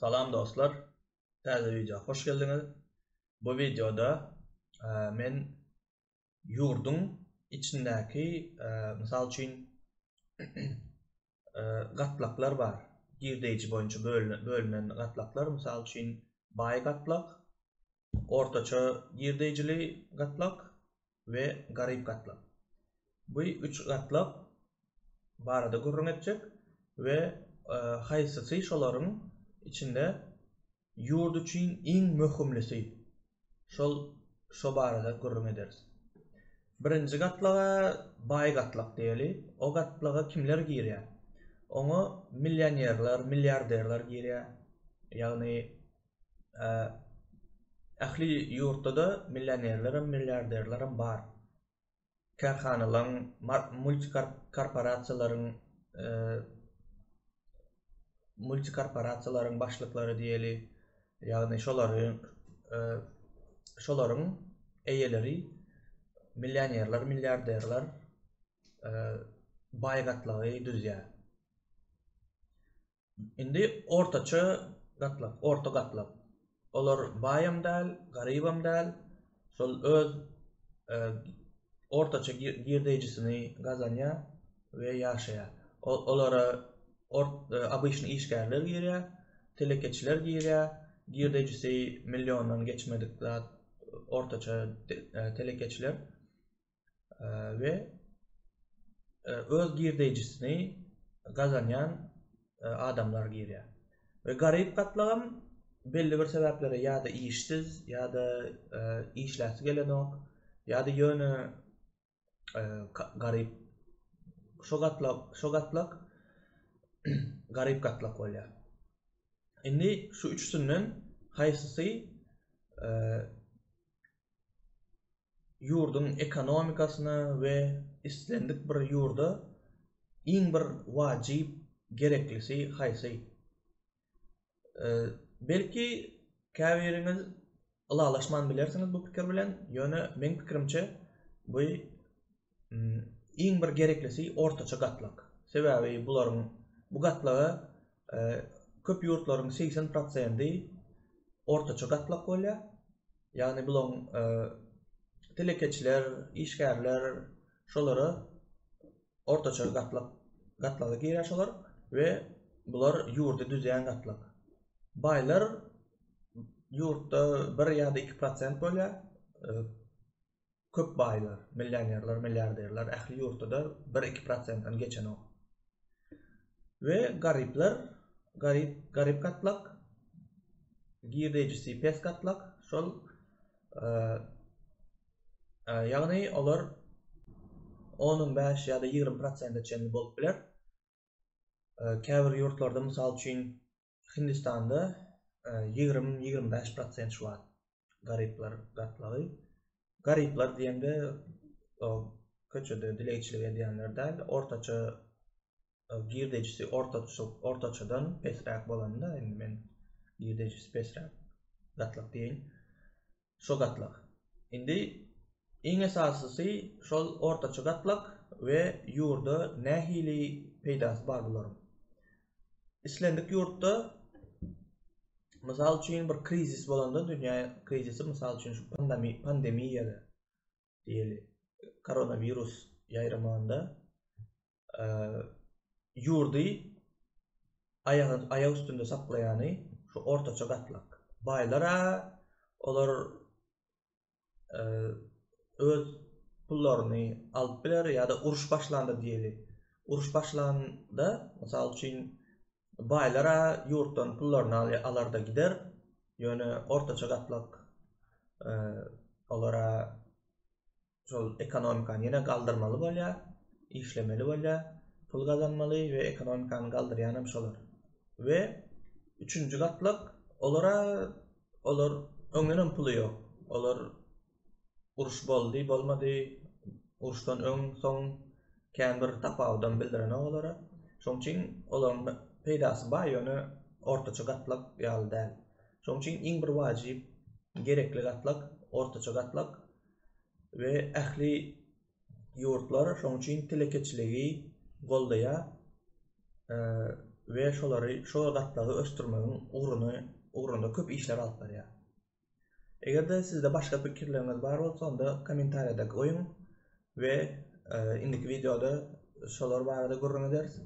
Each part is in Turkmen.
Salam dostlar. Täze wideo hoş geldiňiz. Bu wideoda e, men ýurduň içindäki e, mysal üçin e, gatlaklar bar. Girdeýji boýunça bölünen gatlaklar, mysal üçin baý gatlak, Ortaça girdeýjili gatlak we garyp gatlak. Bu üç gatlak barada gürrüň etjek we haýsysy şolaryň içinde ýurt üçin iň möhümlisi, şol şo barada gürrüň ederis. Birinji gatlaga baý gatlak diýeli. O gatlaga kimler girýär? Oňa millionerler, milliarderler girýär. Ýagny Ähli ýurtda-da millionerlerem, milliarderlerem bar. Kärhanalaryň, multikorporasiýalaryň, multikorporasiýalaryň başlyklary diýeli, ýagny şolary, şolaryň eýeleri millionerler, milliarderler baý gatlagy düzýär. Indi ortaça gatlak, orta gatlak. Olar baýam däl, garybam däl. Şol öz ortaça girdeýjisini gazanýar we ýaşaýar. Olara obyçny işgärler girýär, telekeçiler girýär, girdeýjisi milliondan geçmedik zat ortaça telekeçiler. we e, öz girdeýjisini gazanýan e, adamlar girýär. We garyp gatlagam belli bir sebäplere ýa-da işsiz, ýa-da e, işläsi gelenok, ýa-da ýöne e, garyp şu gatlak, şu gatlak garyp gatlak bolýar. Indi şu üçüsinden haýsysy e, ýurduň ekonomikasyna we islendik bir ýurda iň bir wajyp gereklisi haýsy? Belki käbiriňiz ylalaşman bilersiňiz bu pikir bilen, ýöne meň pikirimçe bu Iň bir gereklisi ortaça gatlak. Sebäbi bularyň bu gatlagy köp ýurtlaryň segsen prosendi ortaça gatlak bolýar. Ýagny bulaň telekeçiler, işgärler şolara ortaça gatlak gatlagy girýär şolar we bular ýurdy düzýän gatlak. Baýlar ýurtda bir ýa-da iki prosent bolýar. köp baýlar, millionerler, milliarderler ähli ýurtda-da bir iki prosentden geçenok. We garyplar, garyp, garyp gatlak, girdejisi pes gatlak, şol ýagny olar onuň bäş ýa-da ýigrimi prosente çenli bolup biler. Käbir ýurtlarda mysal üçin Hindistanda ýigrimi, ýigrimi bäş prosent şu wagt garyplar gatlagy. Garyplar diýende o köçede dilegçilik edýänler däl, ortaça girdejisi ortaça ortaçadan pesräk bolanda, indi men girdejisi pesräk gatlak diýeýin. şu gatlak. Indi iň esasysy şol ortaça gatlak we ýurda nähili peýdasy bar bularyň. Islendik ýurtda mysal üçin bir krizis bolanda dünýä krizisi mysal üçin şu pandemiýa diýeli koronawirus ýaýramanda ýurdy aýak üstünde saklaýany şu ortaça gatlak. Baýlar-a olar öz pullaryny alyp biler ýa-da uruş başlanda diýeli. Uruş başlanda, mysal üçin, baýlar-a ýurtdan pullaryny alar-da gider, ýöne ortaça gatlak olara şol ekonomikany ýene galdyrmaly bolýar, işlemeli bolýar, pul gazanmaly we ekonomikany galdyrýanam şolar. We üçünji gatlak olara olar öňden hem puly ýok. Olar uruş boldy, bolmady, uruşdan öň, soň kän bir tapawudam bildirenok olara. Şoň üçin olaryň peýdasy baý, ýöne ortaça gatlak ýaly däl. Şoň üçin iň bir wajyp, gerekli gatlak ortaça gatlak. we ähli ýurtlar şonuň üçin telekeçiligi goldaýar we şolary şo gatlagy ösdürmegiň ugruna ugrunda köp işler alyp barýar. Eger-de sizde başga pikirleriňiz bar bolsa, onda kommentariýada goýuň we e, indiki wideoda şolar barada gürrüň ederis.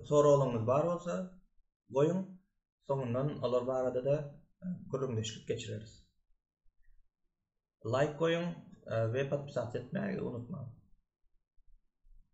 Soraglaryňyz bar bolsa, goýuň. Soňundan olar barada-da e, gürrüňdeşlik geçireris. Laýk goýuň we podpisatsa etmäge unutmaň.